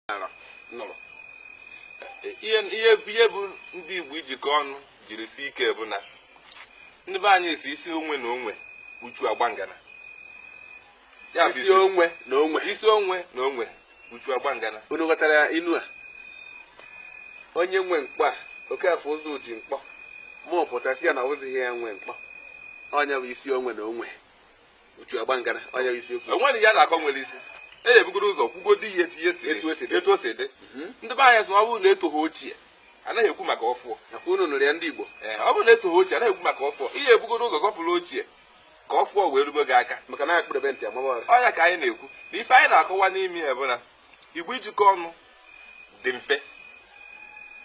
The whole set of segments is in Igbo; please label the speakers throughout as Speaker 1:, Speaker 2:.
Speaker 1: nara nụrụ
Speaker 2: ihe ihe ihe bụ ndị Igbo ijikọ ọnụ jiri sie ike bụ na ndị be anyị sị isi onwe na onwe uchu agba ngana
Speaker 1: Ya bụ isi onwe na onwe isi onwe na
Speaker 2: onwe uchu agba ngana unu ghọtara ya inu
Speaker 1: a onye nwe mkpọ a ọ ka afụ ụzọ ji mkpọ ma ọ pụtasịa na ọ wụzighị ya nwe mkpọ ọ nya bụ isi onwe na onwe uchu agba ngana ọ nya bụ isiokwu enweghị ya na-akọ nwere
Speaker 2: isi e ya-ebugodo ụzọ kwugodi ya etu ya si Etu o si dị. etu o si dị ndị be anyị sị na ọ bụrụ na etoghị ochie anaghị ekwu maka ọfụọ nakwa unu nụrụ ya ndị igbo
Speaker 1: Ee, ọ bụrụ na etoghị ochie
Speaker 2: anaghị ekwu maka ọfụọ ị ya-ebugodo ụzọ sọpụrụ ochie ka ọfụọ wee rube gị aka maka na a kpụrụbe nti a
Speaker 1: maba ụra ọ nya ka anyị
Speaker 2: na-ekwu na ife anyị na-akọwa n'ime ya bụ na igbo ijikọ ọnụ dị mfe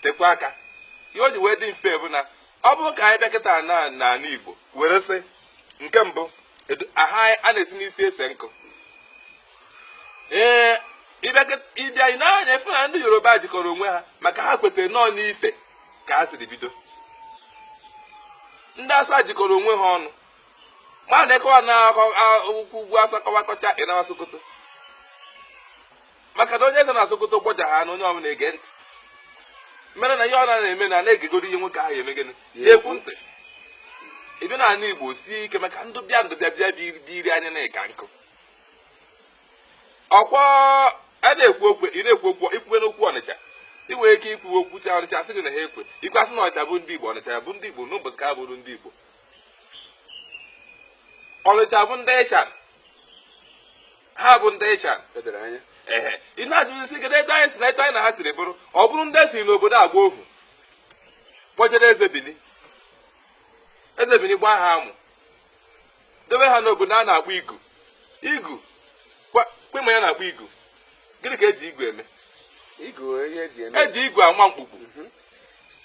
Speaker 2: tekwa aka ihe o ji wee dị mfe bụ na ọ bụrụ ka anyị bịa kịta na n'ala igbo were sị nke mbụ aha a na-esi n'isi ese nkụ ee ị bịa ịne anya ị fụ na ndị Yoruba jikọrọ onwe ha maka ha kwetara na ọ ọ n'Ife ka ha siri bido ndị Awụsa jikọrọ onwe ha ọnụ ma na-akọwa n'akụkọ ugwu Awụsa kọwakọcha ị nawa Sokoto maka na onye eze na Sokoto gbọja ha na onye ọbụla ege ntị mere na ihe ọ na-eme na na-egegoro ihe nwoke ahụ eme gịnị ji ekwu ntị ị bịa n'ala Igbo sie ike maka ndị bịa ndị bịa bịa bịa iri anya na-eka nkụ ọkwọ a na-ekwu okwu ị na-ekwu okwu i kwuwe n'okwu Ọnịcha ị nwere ike ikwu okwu cha Ọnịcha sị gị na ha ekwekwe a sị na Ọnịcha bụ ndị Igbo Ọnịcha bụ ndị Igbo n'ụbọchị ka ha bụrụ ndị Igbo Ọnịcha bụ ndị Ịchan ha bụ ndị Ịchan edere anya ehe ị na-ajụzi sị kedu etu anyị si na etu anyị na ha siri bụrụ ọ bụrụ ndị e siri n'obodo a gbaa ohu kpọjere eze Bini eze Bini gbaa ha amụ debe ha n'obodo a na-akpọ igu igu kwe ma ya na-akpọ igu gịnị ka eji igu eme eji igu ama mkpukpu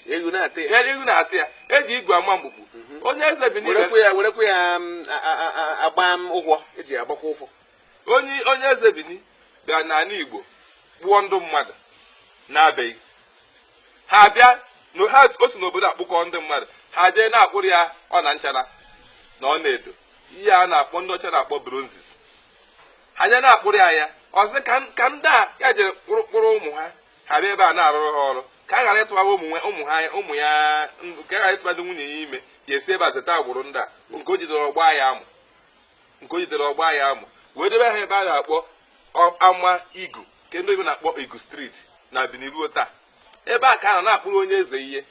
Speaker 1: ewu na-ata ya ewu na-ata
Speaker 2: ya eji igu ama mkpukpu onye eze Bini werekwa ya werekwa ya mm, a- a-
Speaker 1: a- a- agba m ụgwọ eji ya agbakwa ụgwọ onye onye
Speaker 2: eze Bini bịa n'ala Igbo kpọọ ndị mmadụ na-abịaghị ha abịa na ha o si n'obodo a kpọkọọ ndị mmadụ ha jee na-akpụrụ ya ọna nchara na ọna edo ihe a na-akpọ ndị ọcha na-akpọ bronzes ha jee na-akpụrụ ya ya ọzọ ka ka ndị a ya jere kpụrụ kpụrụ ụmụ ha ha bịa ebe a na-arụrụ ha ọrụ ka ha ghara ịtụbara ụmụ nwa- ụmụ ha ụmụ ya ndụ ka ha ghara ịtụbara nwunye ya ime ya esi ebe a zeta agbụrụ ndị a bụ nke o jidere ọ gbaa ya amụ nke o jidere ọ gbaa ya amụ wee debe ha ebe a na-akpọ ọ- ama igu nke ndị oyibo na-akpọ igu street na Bini ruo taa ebe a ka a nọ na-akpụrụ onye eze ihe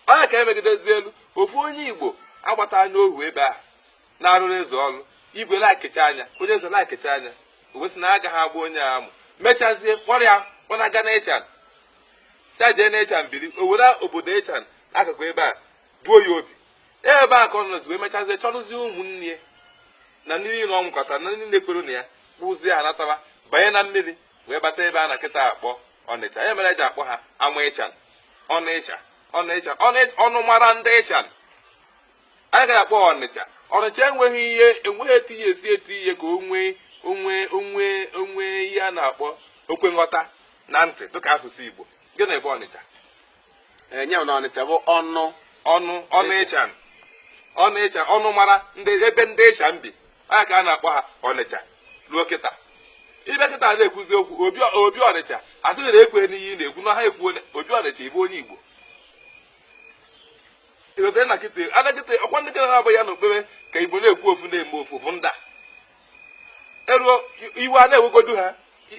Speaker 2: ọ nya ka e megidezilu ofu onye igbo a gbata ya ohu ebe a na-arụrụ eze ọrụ igwe lekecha anya onye eze lekecha anya o wee sị na agaghị agba onye a amụ mechazie kpọrọ ya ọ na-aga na ịchan sị ya jee na ịchan biri o were obodo ịchan n'akụkụ ebe a duo ya obi ebe a ka ọ nọzi wee mechazie chọrụzie ụmụnne na ndị niile o nwekọta na ndị niile kwere na ya kpọzie ha nataba banye na mmiri wee bata ebe a na kịta akpọ ọnịcha ya mere eji akpọ ha ama ịchan ọnụ ịcha ọnụ ịcha ọnụmara ndị ịchan ọ nya ka eji akpọ ọnịcha ọnịcha enweghị ihe enweghị etinye esi etinye ka o nwee o nwee o nwee o nwee ihe a na-akpọ okwe nghọta na ntị dịka asụsụ igbo gịnị bụ ọnịcha enye
Speaker 1: na ọnịcha bụ ọnụ ọnụ ọnụ
Speaker 2: ịcha ọnụ ịcha ọnụmara ndị ebe ndị ịchan bi ọ nya ka a na-akpọ ha ọnịcha ruo kịta ị bịa kịta na-ekwuzi okwu obi obi ọnịcha asịghị na ekwe n'ihe ị na-ekwu na ha ekwuo obi ọnịcha ịbụ onye igbo ịghọtara na kịta adakịta ọkwa ndị kere na-abụ ya na okpere ka igbo na-ekwu ofu na-eme ofu bụ nda eruo iwe a na-ewegodu ha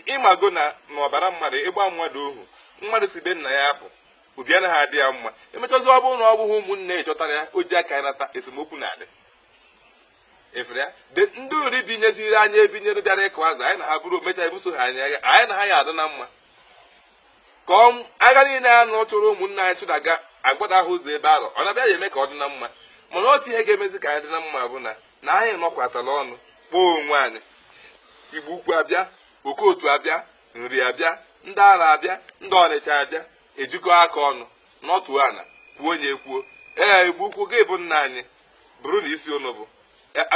Speaker 2: ịmago na n'ọbara mmadụ ịgba mmadụ ohu mmadụ si be nna ya apụ obi anaghị adị ya mma emechazi ọ bụrụ na ọ bụghị ụmụnne chọtara ya o ji aka ya nata esemokwu na-adị efere ya de ndị nri binyeziri anyị ebinyere bịara ịkụ azụ anyị na ha bụrụ omecha ebuso ha anyị agha anyị na ha ya adị na mma ka ọ- agha niile a nọ chụrụ ụmụnne anyị chụdaga agbada ahụ ụzọ ebe arọ ọ na-abịa ya eme ka ọ dị na mma mana otu ihe ga-emezi ka anyị dị na mma bụ na na anyị nọkọtara ọnụ kpọọ onwe anyị igbo ukwu abịa okotu abịa nri abịa ndị arọ abịa ndị ọnịcha abịa ejikọ aka ọnụ n'otu ana kwuo onye kwuo ee igbo ukwu gị bụ nna anyị bụrụ na isi unu bụ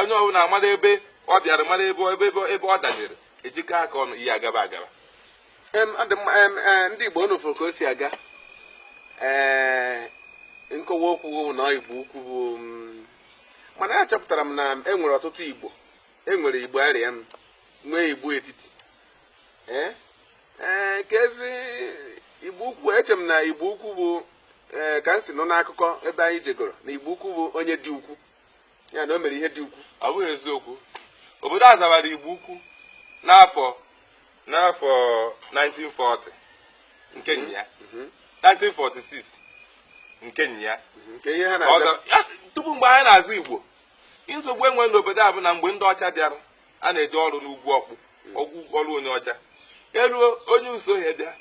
Speaker 2: onye ọbụla mara ebe ọ bịara mara ebe ebe ebe ọ danyere ejikọ aka ọnụ ihe agaba
Speaker 1: agaba ndị Igbo unu fụrụ ka o si aga ee nkọwa okwu na Igbo ukwu bụ mm, mana achọpụtara m na e nwere ọtụtụ Igbo e nwere Igbo arịam nwee Igbo etiti ee ee kezi Igbo ukwu eche m na Igbo ukwu bụ ee eh, ka m si nụ n'akụkọ ebe anyị jegoro na igbo ukwu bụ onye dị ukwu ya na o mere ihe dị ukwu ọ bụghị eziokwu
Speaker 2: obodo a zawara igbo ukwu n'afọ n'afọ 1940 nke mhm. ya 1946 mhm. nke ya
Speaker 1: mhm. tupu mgbe anyị
Speaker 2: na-aza igbo nsogbu enwere n'obodo a bụ na mgbe ndị ọcha bịara a na-eje ọrụ n'ugwu ọkpụ ọgwụ ọrụ onye ọcha eruo onye isuọhịa bịa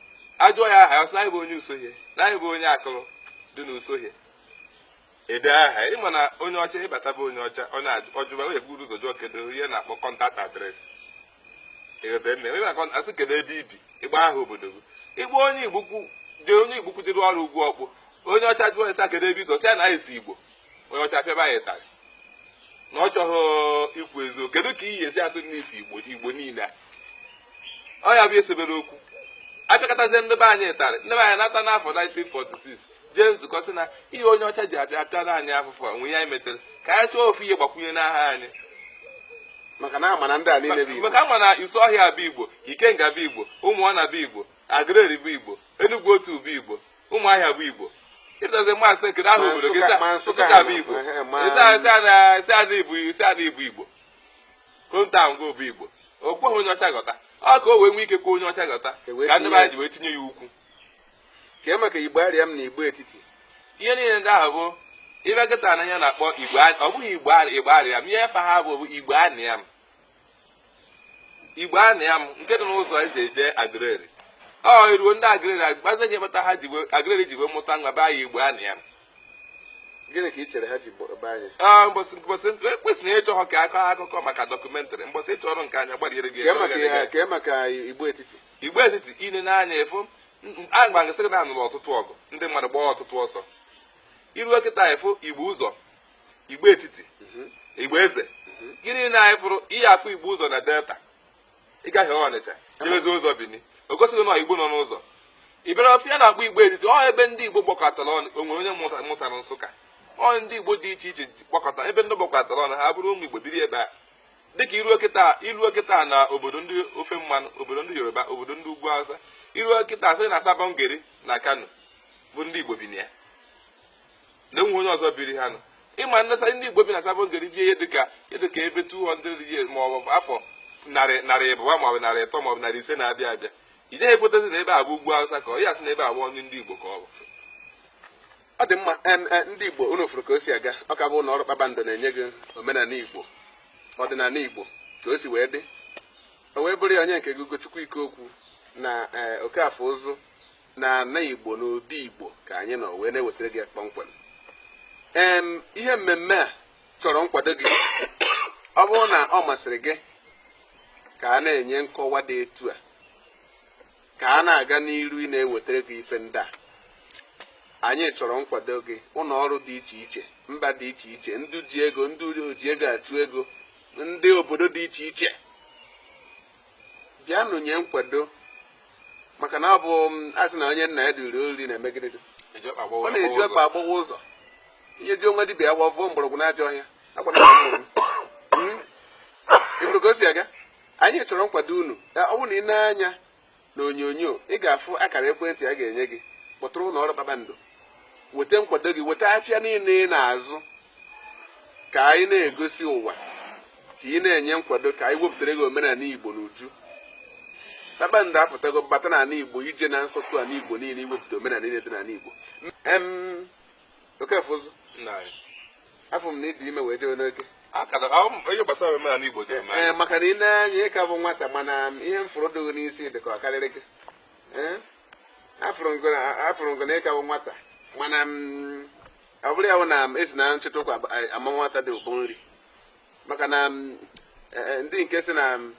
Speaker 2: ajụọ ya aha ya sị na nya bụ onye isuọhịa na nya bụ onye akụrụ dị na isuọhịa edee aha ịma na onye ọcha ịbata be onye ọcha ọ na-ajụba onye buru ụzọ jụọ kedu ihe na-akpọ contact address ịghọta nne onye na-akọ asị kedu ebe i bi ịgba aha obodo gị ịgba onye igbukwu jee onye igbukwu jere ọrụ ugwu ọkpụ onye ọcha jụọ ya sị kedu ebe i si sị ya na nya si igbo onye ọcha pịaba ya ịtarị na ọ chọghị ikwu eziokwu kedu ka ị ya-esi asị n'isi igbo igbo niile ọ ya bụ e sebere okwu a pịakọtazie ndị be anyị ịtarị ndị be anyị nata n'afọ 1946 jee nzukọ sị na ihe onye ọcha ji abịa apịara anyị afụfụ nwe ya metere ka anyị chọọ ofu ihe gbakwunye n'aha
Speaker 1: anyị maka na a ma na ndị a niile bụ igbo maka a ma na isuọhịa
Speaker 2: bụ igbo ikenga bụ igbo ụmụọna bụ igbo aguleri bụ igbo enugwu otu bụ igbo ụmụahịa bụ igbo ịtazi maazị kedu aha obodo gị nsụka bụ igbo isi ana ibu isi ana ibu igbo hometown gị bụ igbo o kweghị onye ọcha ghọta ọ ka o wee nwee ike kwe onye ọcha ghọta ka ndị be anyị ji wee tinye ya ukwu kee
Speaker 1: maka igbariam na igbo etiti ihe niile
Speaker 2: ndị ahụ bụ ị bịa kịta na ihe a na-akpọ igbo ọ bụghị igbariam ihe afa ha bụ igbo anịa m igbo anịa m nke dị n'ụzọ e ji eje aguleri ọ eruo ndị aguleri agbazi ihe kpata ha ji wee- aguleri ji wee mụta nwa baa ya igbo anịa m gịnị
Speaker 1: ka ị chere ha ji gba- baa ya Ah, mbọsị mbọsị
Speaker 2: ekwesịrị ịchọ ha ka a kọọ akụkọ maka dọkụmentrị mbọsị ị chọrọ nke anya gbariere gị kee maka gbariere gị. ya kee
Speaker 1: maka igbo etiti igbo etiti i
Speaker 2: nee anya ị fụ agba nke sị gị na a nụrụ ọtụtụ ọgụ ndị mmadụ gbaa ọtụtụ ọsọ i ruo kịta ị fụ igbo ụzọ igbo etiti igbo eze gịnị na anyị fụrụ ihe afụ igbo ụzọ na delta ị gahee ọnịcha jebezi ụzọ bini o gosi gị na igbo nọ n'ụzọ ebe afụ a na-akpọ igbo etiti ọ ebe ndị igbo gbakọtara ọnụ o nwere onye mụsa- mụsara nsụka ọ ndị igbo dị iche iche gbakọta ebe ndị gbakọtara ọnụ ha bụrụ ụmụ igbo biri ebe a dịka i ruo kịta i ruo kịta na obodo ndị ofe mmanụ obodo ndị yoruba obodo ndị ugwu hausa i ruo kịta sị na sabon gari na kano bụ ndị igbo bi na ya na enweghị onye ọzọ biri ha nụ ị ma na a sị ndị igbo bi na sabon gari bie ihe dịka ihe dịka ebe 200 years ma ọ bụ afọ narị narị ịbụa ma ọ bụ narị ịtọ ma ọ bụ narị ise na-abịa abịa ị gaghị ekwetazi na ebe a bụ ugwu awụsa ka ọ ya sị na ebe a bụ ọnụ ndị igbo ka ọ bụ
Speaker 1: ọ dị mma em, e, ndị igbo unu fụrụ ka o si aga ọ ka bụ ụnọ ọrụ kpakpando na-enye gị omenala igbo ọdịnala igbo ka o si wee dị o wee bụrụ ya onye nke gị ugochukwu ikeokwu na ee, okafọ ụzụ na ana Igbo na obi Igbo ka anyị nọ wee na-ewetara gị ya kpọmkwem em ihe mmemme a chọrọ nkwado gị ọ bụrụ na ọ masịrị gị ka a na-enye nkọwa dị etu a ka a na-aga n'iru ị na-ewetara gị ife ndị a anyị chọrọ nkwado gị ụlọ ọrụ dị iche iche mba dị iche iche ndị ji ego ndị oji ego achụ ego ndị obodo dị iche iche bịanụ nye nkwado maka na ọ bụ m, a sị na onye nna ya duru oriri na-eme gịnị dị? Eji ọkpa agbawa ọ na-eji ụzọ. ọkpa agbawa ụzọ i nyejuo dibịa afọ o vuo mgbọrọgwụ n'ajọ ọhịa agwa na mgbọrọgwụ. Mm. Ị hụrụ ka o si aga anyị chọrọ nkwado unu Ya, ọ bụrụ na ị nee anya na onyonyo ị ga-afụ akara ekwentị a ga-enye gị kpọtụrụ ụlọ ọrụ kpakpando weta nkwado gị weta afịa niile ị na-azụ ka anyị na-egosi ụwa ka ị na-enye nkwado ka anyị wepụtara gị omenala igbo n'uju kpakpando apụtago bata n'ala igbo ije na nsọtụ ala igbo niile iwepụta omenala niile dị n'ala igbo em okafọụzụ afụ m na ị dị ime wee jewe n'oge onye
Speaker 2: gbasara omenala igbo dị ee maka na ine
Speaker 1: anya ị ka bụ nwata mana ihe m fụrụ dị gị n'isi dị ka ọ karịrị gị Eh? afụrụ m gị- a- afụrụ m gị na ị ka wụ nwata mana m, ọ bụrụ ya bụ na esi na nchịta ụkwa ab- a- ama nwata dị ụbọ nri maka na m, e- e, ndị nke sị na m,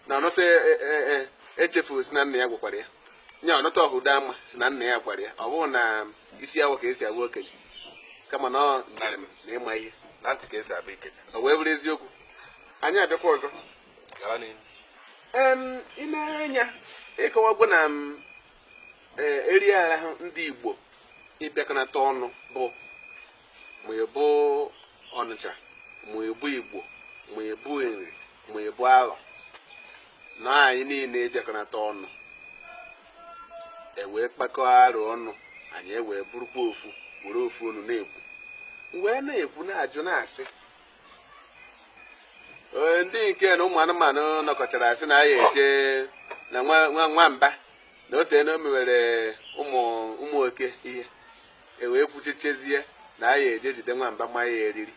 Speaker 1: na ọnụta e- e- e- e- echefu sị na nna ya gwakwara ya onye ọnụta ọhụda ama sị na nna ya gwara ya ọ bụrọ na isi awọ ka esi abụ okenye kama na ọ njem na ịma ihe na ntị ka esi abụ
Speaker 2: ikenye o wee bụrụ eziokwu
Speaker 1: anyị abịakwa ọzọ ine anya ị kọwagwo na eh, eri ahụ ndị Igbo ịbịakọnata ọnụ bụ ma ị bụ Ọnịcha ma ị bụ Igbo ma ị bụ Nri ma ị bụ Alọ na anyị niile ịbịakọnata ọnụ ewee kpakọọ arụ ọnụ anyị ewee bụrụkwa ofu were ofu ọnụ na-ekwu wee na-ekwu na-ajụ na-asị Ee, ndị nke na ụmụ anụmanụ nọkọchara sị na ya eje na nwa nwa- nwamba na ọ teena o mewere ụmụ ụmụ oke ihe e wee kwuchechezie na ya eje jide nwamba ma ya eriri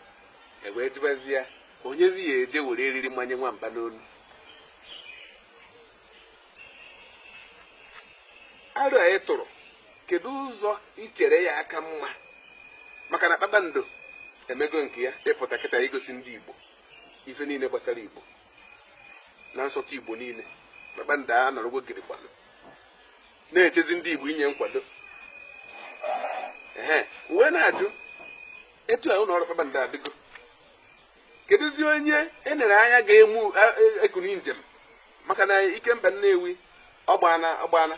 Speaker 1: e wee jụbazia onyezi ya-eje were eriri manye nwamba n'onu aro anyị tụrụ kedu ụzọ i chere ya-aka mma maka na kpakpando emego nke ya ịpụta kịta igosi ndị igbo ife niile gbasara igbo na nsọtụ igbo niile kpakpando anọrọgo gidigbam na-echezi ndị igbo inye nkwado ee e wee na-ajụ etu a ụlọ ọrụ kpakpando adịgo kedụzi onye e nere anya ga-emu ekuni njem maka na ikemba nnewi ọ gbana ọ gbana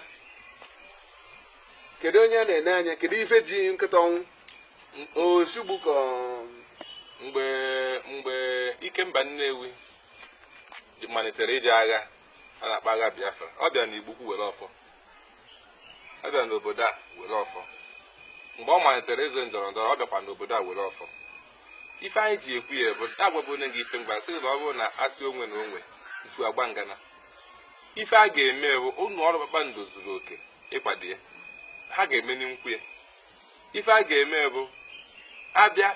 Speaker 1: kedu onye a na-ene anya kedu ife ji nkịta ọnwụ osugbu ka
Speaker 2: mgbe mgbe ikemba nnewi malitere ije agha a na-akpọ agha biafra ọ bịara na igbukwu were ọfọ ọ bịara n'obodo a were ọfọ mgbe ọ malitere ịzọ ndọrọ ndọrọ ọ bịakwa n'obodo a were ọfọ ife anyị ji ekwu ya bụ agwagbu onye gị ife mgba sị na ọ bụrụ na asị onwe na onwe ntu agba ngana ife a ga-eme bụ ụlọ ọrụ kpakpando zuru oke ịkwado ya ha ga-eme n'nkwu ya ife a ga-eme bụ abịa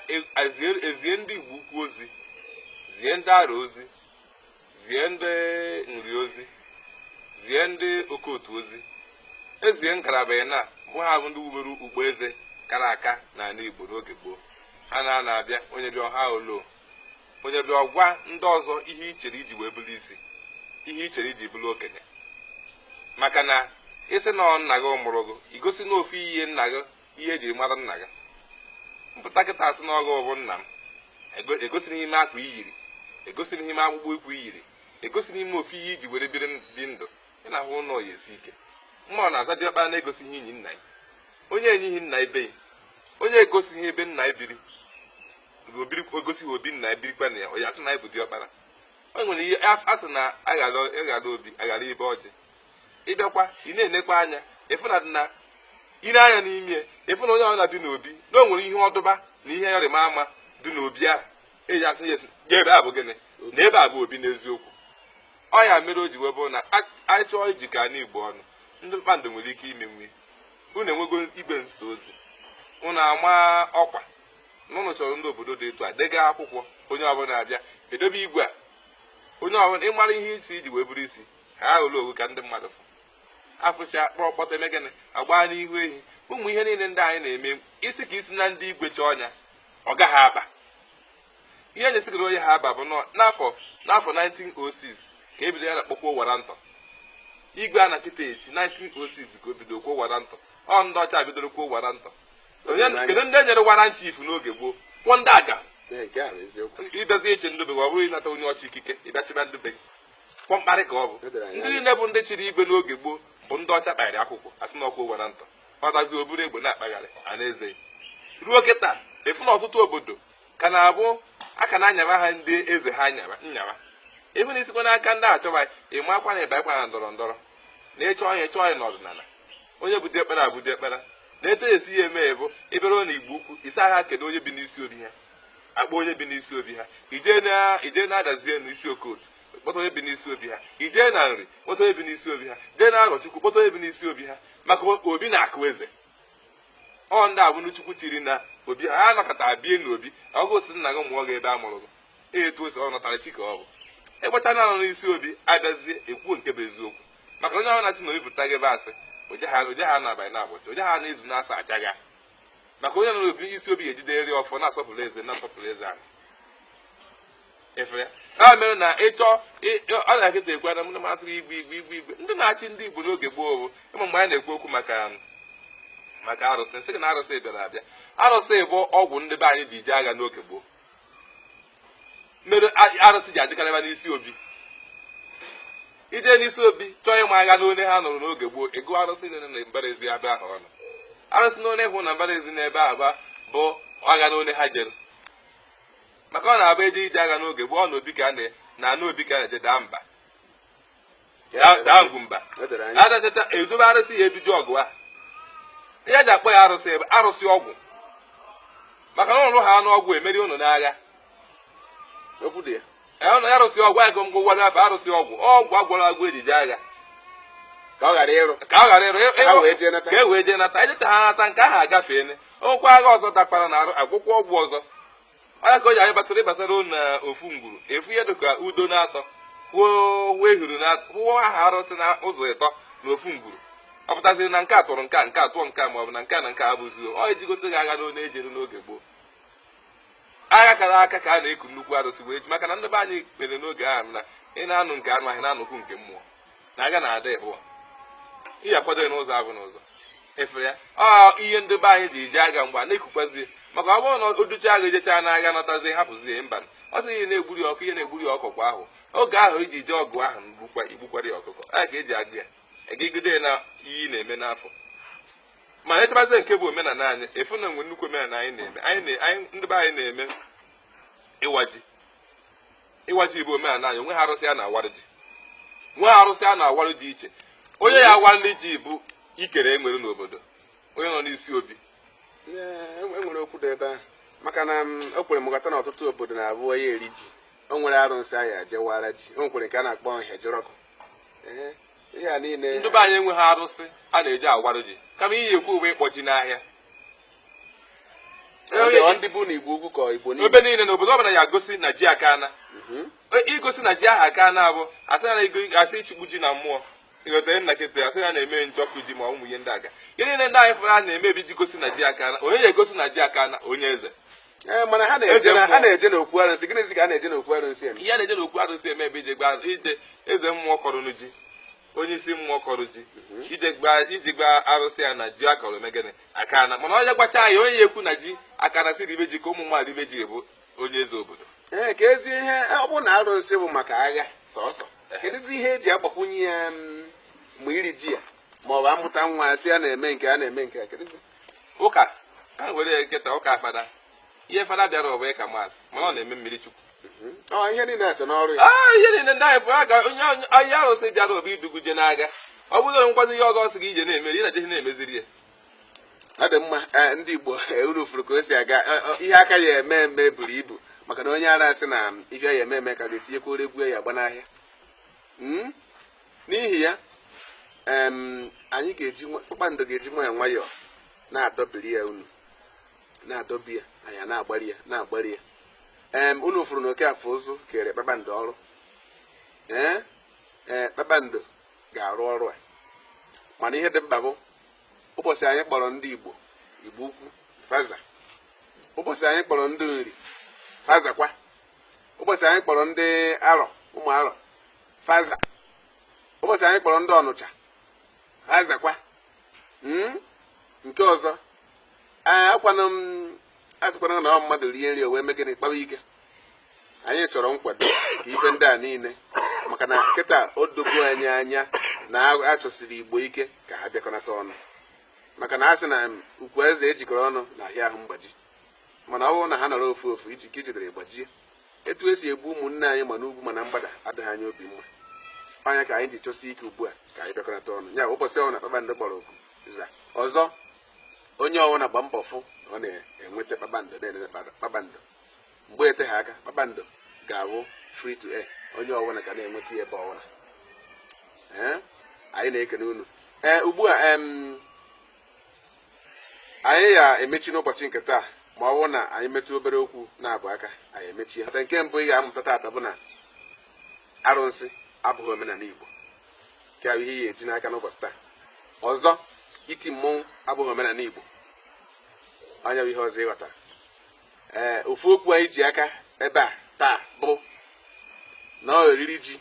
Speaker 2: ezie ndị igbo ukwu ozi zie ndị arọ ozi zie ndị Nri ozi zie ndị Okotu ozi ezie ngalaba ịna bụ ha bụ ndị wubere ugbo eze kara aka n'ala Igbo n'oge gboo ha na na-abịa onye bịa ọha olo onye bịa ọgwa ndị ọzọ ihe i chere i ji wee bụrụ isi ihe i chere i ji bụrụ okenye maka na ị sị na nna gị mụrụ gị i gosi na ofu ihe nna gị ihe ejiri mara nna gị m pụta kịta asị na Ọgụ bụ nna m egosighị m akwa iyiri egosighị m akpụkpọ ụkwụ iyiri egosighị m ofu ihe iji were biri dị ndụ ị na-ahụ na ọ ya-esi ike mmadụ na-aza diọkpara na-egosighị enyi nna ya onye enyighị nna ibe ya onye egosighị ebe nna ya biri egosighị obi nna ya birikwa na ya ọ ya sị na ya bụ diọkpara o nwere ihe a sị na aghara obi aghara ibe ọjị ị bịakwa ị na-enekwa anya ịfụ na dị na ire anya n'ime ịfụ na onye ọbụla dị n'obi na o nwere ihe ọdụba na ihe ịrịma ama dị n'obi ahụ eji asị ya ebe a bụ gịnị na ebe a bụ obi n'eziokwu ọ ya mere o ji wee bụrụ na a- anyị chọọ ijikọ anyị Igbo ọnụ ndị Kpakpando nwere ike imenwu unu enwego igwe nsa ozi unu ama ọkwa na unu chọrọ ndị obodo dị etu a dega akwụkwọ onye ọbụla abịa edobe igwe a onye ọbụla ịmara ihe isi iji wee bụrụ isi ha hụrụ owu ka ndị mmadụ fụ afụcha kpọrọ kpọta eme gịnị agbaa n'ihu ehi ụmụ ihe niile ndị anyị na-eme isi ka isi na ndị igwe chọọ ọnya ọ gaghị aba ihe anyị esigoro onye ha aba bụ n'afọ 1906 ka ebido ya na kpọkwa warrant igwe a na kịta echi 1906 ka o bido kwuo warrant ọ ndị ọcha bidoro kwuo warrant kedu ndị e nyere warrant chief n'oge gboo kwụọ ndị aga ịbịazi achị ndị be ọ bụrụ ịnata onye ọcha ikike ịbịa chịba ndị be kwa mkparị ka ọ bụ ndị niile bụ ndị chịrị igwe n'oge gboo bụ ndị ọcha kpagharị akwụkwọ asị na ọkwa warrant ọdazi o buru egbe na-akpagharị a na-eze ruo kịta ịfụ na ọtụtụ obodo ka na-abụ aka na-anyawa ha ndị eze ha nyawa ịfụ na isikwa n'aka ndị achọba ị makwa na ịbakwa na ndọrọ ndọrọ na ịchọ onye chọọ onye n'ọdịnala onye bụ diọkpara abụ diọkpara na etu e si ya eme ya bụ ịbịara na Igbo Ukwu ị sị ha kedu onye bi n'isi obi ha akpọ onye bi n'isi obi ha i jee na Adazi n'isi Okotu kpọta onye bi n'isi obi ha i jee na Nri kpọta onye bi n'isi obi ha jee na Arọchukwu kpọta onye bi n'isi obi ha maka obi na-akụ eze ọ ndị a bụ ndị Chukwu chiri na obi ha anọkọta bie na obi ọgụ si nna gị mụọ gị ebe a mụrụ gị etu o si ọnatarachi ka ọ bụ ịgbata na anọ n'isi obi abịazie ekwuo nke bụ eziokwu maka onye ahụ na-asị na obi pụta gị ebe asị oje ha oje ha n'abalị n'ụbọchị oje ha n'izu n'asaa acha gị maka onye nọ n'obi isi obi ga-ejideriri ọfọ na-asọpụrụ eze na-asọpụrụ eze ahụ efere a mere na ịchọ ọ na-akịta ekwe na mụ masịrị igwe igwe igwe igwe ndị na-achị ndị Igbo n'oge gboo bụ ị ma mgbe anyị na-ekwu okwu maka arụsị sị gị na arụsị bịara abịa arụsị bụ ọgwụ ndị be anyị ji ije agha n'oge gboo mere arụsị ji adịkarịba n'isi obi i je n'isi obi chọọ ịma agha n'one ha nụrụ n'oge gboo ị gụọ arụsị nile na mbara ezi ebe ahụ ọnụ arụsị n'one ị hụ na mbara ezi n'ebe aba bụ agha n'one ha jere maka ọ na-abụ eje ije agha n'oge gboo ọ na obi ka a na n'obi ka a na-eje daa mba Da- daa ngwumba O doro anya. a dachacha e dobe arụsị ya e ji je ọgụ ahụ ihe e ji akpọ ya arụsị ebe arụsị ọgwụ maka na ụlụ ha anụ ọgụ emeri ụnụ n'agha
Speaker 1: Okwu dị ya. Ee, ụnụ arụsị
Speaker 2: ọgwụ anyị gụmgụ gwara afọ arụsị ọgwụ ọgwụ a gwọrọ agwọ e ji eje agha
Speaker 1: Ka ọ ghara ịrụ. ka ọ ghara ịrụ ịrụ- Ha
Speaker 2: wee jee nata. ka e
Speaker 1: wee jee nata anyị jeta
Speaker 2: ha nata nke ahụ agafeene o nwekwa agha ọzọ dakwara na arụ a gwọkwa ọgwụ ọzọ ọ ya ka o ji anyị batara ịbatara na ofu ngwuru ị fụ ihe dịka Udo n'atọ kwuo ehuru na kwuo aha arụsị na ụzọ ịtọ na ofu ngwuru ọ pụtaziri na nke a tụrụ nke a nke a tụọ nke a ma ọ bụ na nke a na nke a bụzi ọ iji gosi gị agha n'one e jere n'oge gboo agha kara aka ka a na-eku nnukwu arụsị wee je maka na ndị be anyị kwere n'oge ahụ na ị na-anụ nke anụ ahụ ị na-anụkwu nke mmụọ na agha na-ada ịbụọ ị ya-akwado ya n'ụzọ abụọ n'ụzọ ị fụrụ ya ọ ihe ndị be anyị ji eje agha mgbe a na-ekukwazi maka ọ bụrụ na o duchaa agha ejechaa n'agha natazi hapụzi ya mba ọ sị ị ya na-egburi ọkụ ị ya na-egburi ya ọkụkọ ahụ oge ahụ i ji jee ọgụ ahụ gbukwa igbukwara ya ọkụkọ a ga-eji agọ ya egegide ya na iyi na-eme n'afọ mana e chebazi nke bụ omenala anyị ị fụ na e nwe nnukwu omenala anyị na-eme anyị na- anyị- ndị be anyị na-eme ịwa ji ịwa ji bụ omenala anyị o nweha arụsị a na-awarụ ji nweha arụsị a na-awarụ ji iche onye ya-awali ji bụ ikere e nwere n'obodo onye nọ n'isi obi
Speaker 1: enwere e okwu dị ebe ahụ maka na mm, o kwere m ghọta na ọtụtụ obodo na-abụ onye eri ji o nwere arụsị a ya-eje wara ji o nwekwere nke a na-akpọ Ahịajiọkụ ihe a niile ndị be anyị enweghị arụsị
Speaker 2: a na-eji awarụ ji kama ị ya-ekwuwe ịkpọ ji n'ahịa
Speaker 1: ndị bụ na Igboukwu ka Igbo niile ebe niile na obodo ọbụla
Speaker 2: ya-egosi na ji akana mhm. igosi na ji ahụ akana abụ asị na asị ịchụpụ ji na mmụọ ịghọtara nna kịta a sị na a na-eme njọkụ ji ma ụmụ ihe ndị aga ihe niile ndị anyị fụrụ a na-eme bụ iji gosi na ji akana onye ya-egosi na ji akana onye eze Eh, mana
Speaker 1: a na-eje n'okwu arụsị gịnịzi ka a na-eje n'okwu arụsị eme ihe a na-eje n'okwu arụsị
Speaker 2: eme bụ ije gwa ije eze mmụọ kọrọnụ ji onye isi mmụọ kọrọ ji ije gwa ije gwa arụsị ya na ji a kọrọ eme gịnị akana mana ọ ya-agwacha ya onye ya-ekwu na ji akana sị ribe ji ka ụmụ mmadụ ribe ji bụ onye eze obodo ee keezi ihe
Speaker 1: ọ bụ na arụsị bụ maka agha sọsọ kedụzi ihe e ji agbakwunye ya mm, ma iri ji ya ma ọ bụ a mụta nwa sị a na-eme nke a na-eme nke a kedụzi ụka
Speaker 2: ha were ya nkịta ụka fada ihe fada bịara ọ bụ ịka mass mana ọ na-eme mmiri chukwu Ọ ihe
Speaker 1: niile so n'ọrụ ya. Ah, ihe niile ndị anyị
Speaker 2: fụ aga onye onye- onye arụsị bịara ọ bụ idu gị je n'agha ọ bụrụ na nkwazi ihe ọzọ ọ sị gị ije na-emeri ị na-eje na-emeziri ya Ọ dị
Speaker 1: mma eh, ndị Igbo eh, unu fụrụ ka o si aga Eh, eh, ihe a ka ya eme eme buru ibu maka na onye ara sị na mm, ife ya eme eme ka ga-etinyekwa ore egwu ya agba n'ahịa Mm? n'ihi ya em, anyị ga-eji nwa- kpakpando ga-eji nwayọọ nwayọọ na-adọbiri ya unu na-adọbi ya anyị a na-agbari ya na-agbari ya em unu fụrụ na okafọụzụ kere kpakpando ọrụ ee ee kpakpando ga-arụ ọrụ a mana ihe dị mkpa bụ ụbọchị anyị kpọrọ ndị igbo igbo ukwu fa za ụbọchị anyị kpọrọ ndị nri fa zakwa ụbọchị anyị kpọrọ ndị arọ ụmụ arọ fa za ụbọchị anyị kpọrọ ndị ọnụcha fa zakwa Mm? nke ọzọ ee akwana m asịkwana na ọ mmadụ rie nri o wee mee gịnị kpawa ike anyị chọrọ nkwado ka ife ndị a niile maka na kịta o dogo anyị anya na a chọsiri igbo ike ka ha bịakọnata ọnụ maka na a sị na ukwu azịza e jikọrọ ọnụ na-ahịa ahụ mgbaji mana ọ bụrụ na ha nọrọ ofu ofu iji ka ijidere gbajie etu esi egbu ụmụnne anyị ma n'ugwu ma na mgbada adịghị anyị obi mma ọ ya ka anyị ji chọsi ike ugbu a ka anyị bịakọnata ọnụ ya ụbọchị ọbụla kpakpando kpọrọ oku za ọzọ onye ọwụna gba mbọ fụ na ọ na-enweta kpakpando na-enweta kpakpando- kpakpando mgbe eteghị aka kpakpando ga-awụ free to air onye ọwụna ga na-enweta ya ebe ọwụna ee anyị na-ekene unu ee ugbu a em, anyị ya emechi n'ụbọchị nke taa ma ọ bụrụ na anyị metụ obere okwu naabọ aka anyị emechie nke mbụ ị ga-amụta taata bụ na arụsị abụghị omenala igbo nke ahụ ihe ị ya eji n'aka n'ụbọchị taa ọzọ iti mmọnwụ abụghị omenala igbo ọ ya bụ ihe ọzọ ịghọta ee ofu okwu anyị ji aka ebe a taa bụ na oriri ji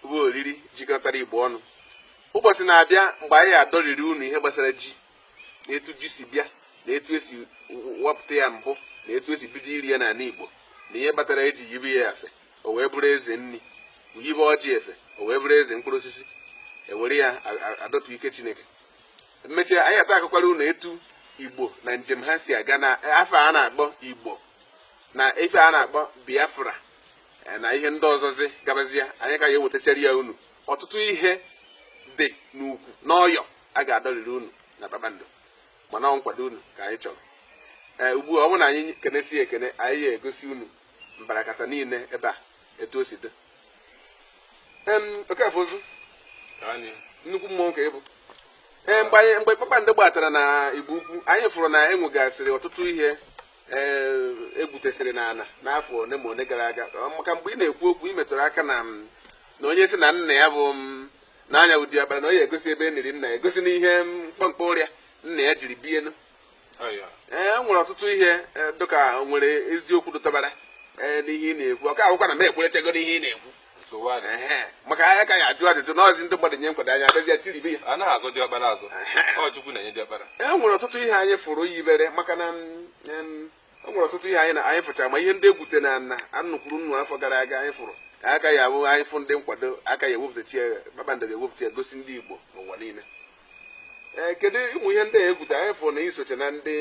Speaker 1: bụ oriri jikọtara igbo ọnụ ụbọchị na-abịa mgbe anyị adọriri unu ihe gbasara ji na etu ji si bịa na etu esi wepụta ya mbụ na etu esi bido iri ya n'ala igbo na ihe kpatara eji yibe ya efe o wee bụrụ eze nri yibe ọjị efe o wee bụrụ eze mkpụrụ osisi ewere ya adọtụ ike chineke emechaa anyị ata akọkwara unu etu igbo na njem ha si aga na afa a na-akpọ igbo na ife a na-akpọ biafra e, na ihe ndị ọzọzi gabazia anyị ka ya ewetachara ya unu ọtụtụ ihe dị n'ukwu n'ọyọ a ga-adọrịrị unu na kpakpando mana ọ nkwado unu ka anyị chọrọ ee eh, ugbu a ọ bụrụ na anyị kenesie ekene anyị ya egosi unu mbarakata niile ebe a etu o si dị Em, Okafọuzu Anyị. nnukwu mmụọ ka ị bụ ee mgbe anyị mgbe kpakpando gbatara na Igbo Ukwu anyị fụrụ na enwegasịrị ọtụtụ ihe ee egwutesịrị n'ana n'afọ one ma one gara aga Ọ maka mgbe ị na-ekwu okwu ị metụrụ aka na m, na onye sị na nna ya bụ m, na ya bụ diọkpara na ọ ya egosi ebe e niri nna ya egosi na ihe mkpọmkpọ arịa nna ya jiri bie ụnọ ee e nwere ọtụtụ ihe e, dịka nwere eziokwu dụtabara e, n'ihe ị na-ekwu ọka akwụkwọ na m ekwerechago n'ihe ị na-ekwu maka anyị ka ya-ajụ ajụjụ n'ọzi ndị mmadụ nye nkwado anyị abịazie tiribe ya anaghị azọ diọkpara azọ ọ Chukwu na-enye diọkpara e nwere ọtụtụ ihe anyị fụrụ yibere maka na e nwere ọtụtụ ihe anyị na anyị fụchara ma ihe ndị egwute na ana nnu kwuru nnu afọ gara aga anyị fụrụ ọ ka ya-abụ anyị fụ ndị nkwado a ka ya-ewepụtacha ya kpakpando ga-ewepụta ya gosi ndị Igbo n'ụwa niile ee kedu ụmụ ihe ndị a egwute anyị fụrụ na i socha na ndị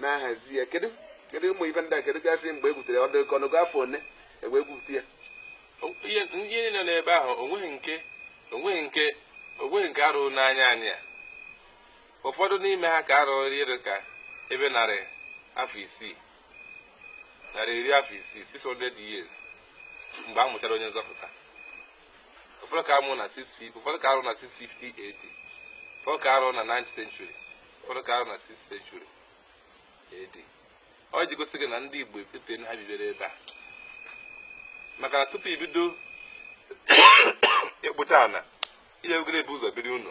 Speaker 1: na-ahazi ya kedu kedu ụmụ ife ndị a kedu gasị mgbe egwutere ọ dị ka ọ nọgo afọ one e wee gwupụta ya ihe
Speaker 2: ndị niile n'ebe ahụ onweghị nke onweghị nke onweghị nke arụrụ n'anya anyị a ụfọdụ n'ime ha ka arụrụ ihe dị ka ebe narị afọ isii narị iri afọ isii 600 years mgbe a mụchara onye nzọpụta ụfọdụ ka amụ na 650 ụfọdụ ka arụ na 650 AD ụfọdụ ka arụ na 9th century ụfọdụ ka arụ na 6th century AD ọ ji gosi gị na ndị Igbo epete na ha bibere ebe a maka na tupu i bido ịkpụcha ọna ihe ogere bu ụzọ biri ụnọ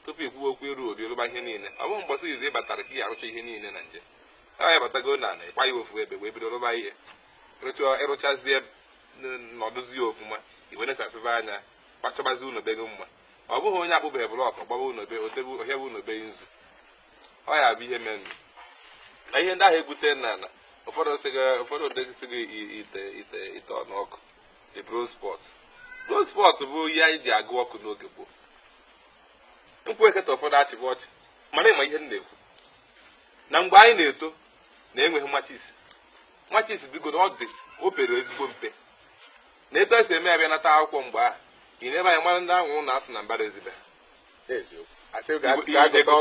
Speaker 2: tupu i kwuwe okwu ịrụ obi rụba ihe niile ọ bụghị mbọsị izizi ị batara ka ị arụcha ihe niile na nje a ya batago na ala ịkwa ya ofu ebe wee bido rụba ihe ị rụchazie nọdụzia ọfụma i wee nesasịba anya bịa chọbazi ụnọ be gị mma ọ bụghị onye akpụbeghị blọk gbaba ụnọ be o tebe ohịa bụ ụnọ be nzu ọ ya bụ ihe menụ na ihe ndị ahụ egwute na ana ụfọdụ sị gị ụfọdụ dịsị ka i- ite ite ite ọnụ ọkụ the bronze pot bronze pot bụ ihe anyị ji agụ ọkụ n'oge gboo m kwue kịta ụfọdụ achịba ọchị mana ị ma ihe m na-ekwu na mgbe anyị na-eto na enweghị machis machis dịgodị ọ dị obere ezigbo mpe na etu esi eme abịa nata akwụkwọ mgbe ahụ ị nee ebe anyị mara ndị anwụrụ na-asụ na mbara ezi be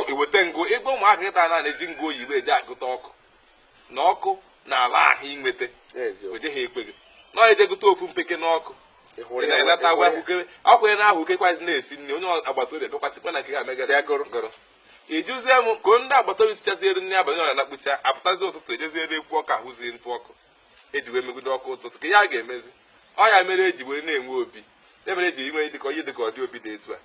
Speaker 2: i weta ngụ ebe ụmụaka kịta na na-eji ngụ oyibo eji agụta ọkụ na ọkụ na ala ahụ i weta oje ha ekwe gị na ọ eje gụta ofu mpeke n'ọkụ na-enata agwa ahụkere ọkụ gị na ahụkekwazi na-esi nri onye agbata obi bịakwasịkwa na nke ga-emegara gụrụ ịjụzie m ka ndị agbata obi sichazie rie nri abalị a nakpucha apụtazi ụtụtụ ejezie ebe ekwu ọkụ ahụzie ntụ ọkụ eji wee megide ọkụ ụtụtụ kee ihe a ga-emezi ọ ya mere eji wee na-enwe obi ya mere eji inwe dịka onye dịka ọdị obi dị etu a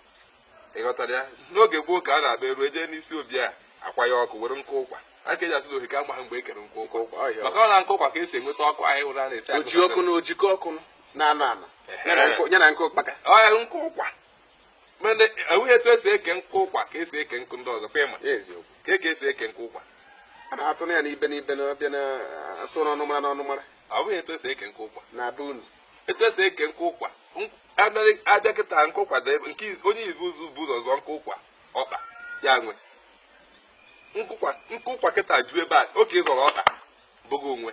Speaker 2: ị ghọtara ya n'oge gboo ka a na-agba eru ejee n'isi obi a akwa ya ọkụ were nkụ ụkwa ya ka eji asị na ofeke amaha mgbe e kere nkụ ụkwa Ụkwa, ọ ya. maka ọ na nkụ ụkwa ka esi enweta ọkụ anyị hụrụ a na-esi oji agụta ọkụ na ojikọ ọkụ
Speaker 1: na-anọ anọ ya na nkụ- ya na nkụ ụkpaka ọ ya nkụ ụkwa
Speaker 2: mana o nweghị etu esi eke nkụ ụkwa ka esi eke nkụ ndị ọzọ kwa ịma eziokwu ka eke esi eke nkụ ụkwa a na-atụ na ya
Speaker 1: n'ibe n'ibe na ọ bụ a na-atụ n'ọnụmara n'ọnụmara o nweghị etu esi eke
Speaker 2: nkụ ụkwa na be unu
Speaker 1: etu esi eke
Speaker 2: nkụ ụkwa nk- abịa- abịa kịta nkụ ụkwa dị ebe nke iz- onye ibu ụzọ bu ụzọ zọọ nkụ ụkwa ọkpa ya nwe nkụ ụkwa- nkụ ụkwa kịta ju ebe a ọ ke ị zọrọ ọkpa bụ gị nwe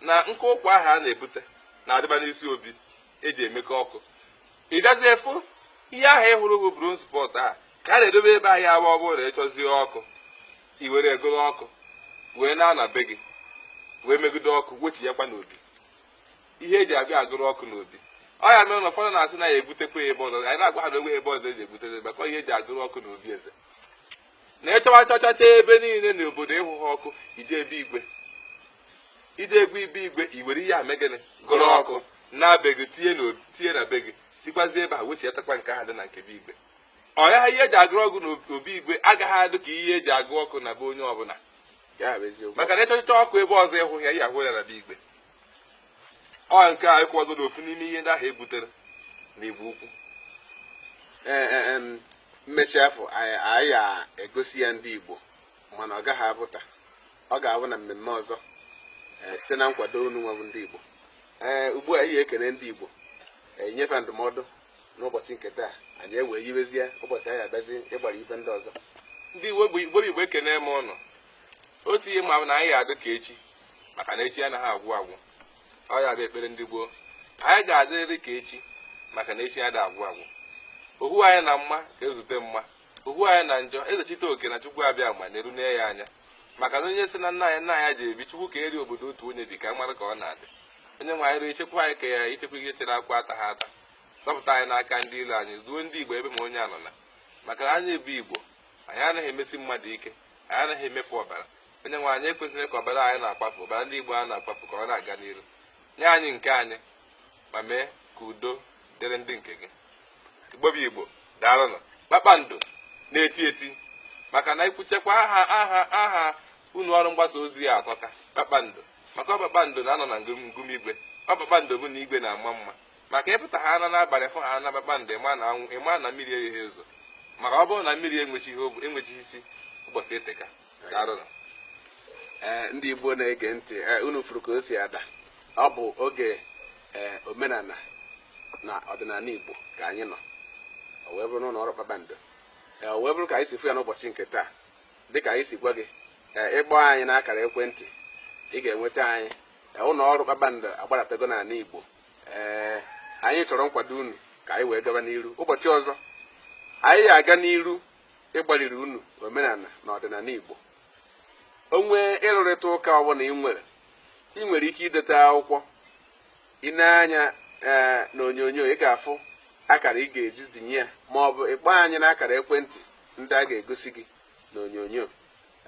Speaker 2: na nkụ ụkwa ahụ a na-ebute na-adịba n'isi obi eji emekọ ọkụ ị gazie fụ ihe ahụ ị hụrụ bụ bronze pot a ka a na-edobe ebe ahụ ya bụ ọ bụrụ na ị chọzie ọkụ i were gụrụ ọkụ wee naa na be gị wee megide ọkụ wechighakwa n'obi ihe eji abịa agụrụ ọkụ n'obi ọ ya mere na ụfọdụ na-asị na ya ebutekwa ebe ọzọ anyị na-agwa ha na o nwe ebe ọzọ eji ebute ya maka ihe eji agụrụ ọkụ n'obi eze na ị chọwa chọchacha ebe niile na obodo ị hụha ọkụ i jee be igwe i jee gụọ be igwe i were ihe a mee gịnị gụrụ ọkụ naa be gị tinye na tinye na be gị sikwazi ebe a wechiatakwa nke ahụ dị na nke be igwe ọ ya ihe eji agụrụ ọkụ na obi igwe agaghị adụ ka ihe eji agụ ọkụ na be onye ọbụla maka na ị chọchịcha ọkụ ebe ọzọ ị hụha ya ị ya-ahụ ya na be igwe ọ nke a ị kọwagodo ofu n'ime ihe ndị ahụ e gwutere n'igbo ukwu Ee, e, em,
Speaker 1: mmechi afọ anyị anyị ya-egosi ya ndị igbo mana ọ gaghị abụ taa ọ ga-abụ na mmemme ọzọ ee, site na nkwado unu nwa bụ ndị igbo ee ugbu a ị ya-ekene ndị igbo ee, i nye fa ndụmọdụ n'ụbọchị nke taa anyị ewee yiwezie ụbọchị anyị abịazi ịgbara ife ndị ọzọ ndị igbo bụ
Speaker 2: igbo bụ igbo ekene m ụnụ otu ihe m ma bụ na anyị ga-adị ka echi maka na echi anaghị agwụ agwụ ọ ya bụ ekpere ndị gboo anyị ga-adịrịrị ka echi maka na echi adịghị agwụ agwụ ọ hụ anyị na mma ka ezute mma ọ hụ anyị na njọ ezechitoke na chukwu abịama nerunu ya anya maka na onye sị na nna anyị nna anyị ji ebi chukwu ka eri obodo otu onye bi ka a mara ka ọ na-adị onye nwe anyị ruo ichekwa anyị ka ya ichekwa ihe chere akwa ataha ata zọpụta anyị n'aka ndị ilo anyị zọọ ndị igbo ebe ma onye anọ na maka na anyị bụ igbo anyị anaghị emesi mmadụ ike anyị anaghị emefu ọbara onye nwe anyị ekwezina ka ọbara anyị na-akwafu ọbara ndị Igbo a na-akwafu ka ọ na-aga n'iru nye anyị nke anyị ma mee ka udo dịrị ndị nke gị Igbo bụ Igbo daalụnụ kpakpando na-eti eti maka na i kwuchakwa aha aha aha ụnọ ọrụ mgbasa ozi a atọka kpakpando maka ọ kpakpando na-anọ na ngụm igwe ọ kpakpando bụ na igwe na-ama mma Maka ị pụta ha ana n'abalị fụ ha ana kpakpando ị ma na anwụ ị ma na mmiri egheghi ezo maka ọ bụrụ na mmiri enwechighị ogbe enwechighị chi ụbọchị eteka daalụnụ
Speaker 1: ee ndị igbo na-ege ntị ee unu fụrụ ka o si ada ọ bụ oge ee omenala na ọdịnala igbo ka anyị nọ o wee bụrụ n'ụlọ ọrụ kpakpando ee o wee bụrụ ka anyị si fụ ya n'ụbọchị nke taa dịka anyị si gwa gị ee ị kpọọ anyị n'akara ekwentị ị ga-enweta anyị ee ụlọ ọrụ kpakpando agbadatego n'ala igbo ee anyị chọrọ nkwado unu ka anyị wee gaba n'iru ụbọchị ọzọ anyị aga n'iru ịgbaliri unu omenala na ọdịnala Igbo o nwee ịrụrịta ụka ọbụla ị nwere ị nwere ike ideta akwụkwọ i nee anya ee na onyonyo ị ga-afụ akara ị ga-eji denye ya ma ọ bụ ị kpọọ anyị n'akara ekwentị ndị a ga-egosi gị na onyonyo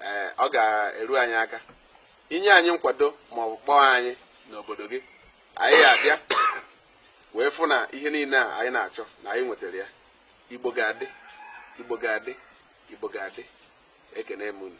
Speaker 1: ee ọ ga-eru anyị aka i nye anyị nkwado ma ọ bụ kpọọ anyị n'obodo gị anyị abịa wee fụ na ihe niile a anyị na-achọ na anyị nwetara ya igbo ga-adị igbo ga-adị igbo ga-adị ekene m unu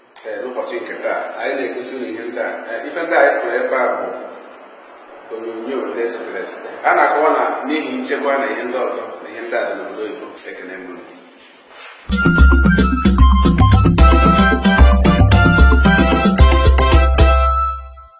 Speaker 1: Ee, n'ụbọchị nke taa anyị na-egosi unu ihe ndị a Ee, ife ndị anyị fụrụ ebe a bụ onyonyo ndị e setere esete a na-akọwa na n'ihi nchekwa na ihe ndị ọzọ na ihe ndị a dị n'obodo oyibo ekene m unu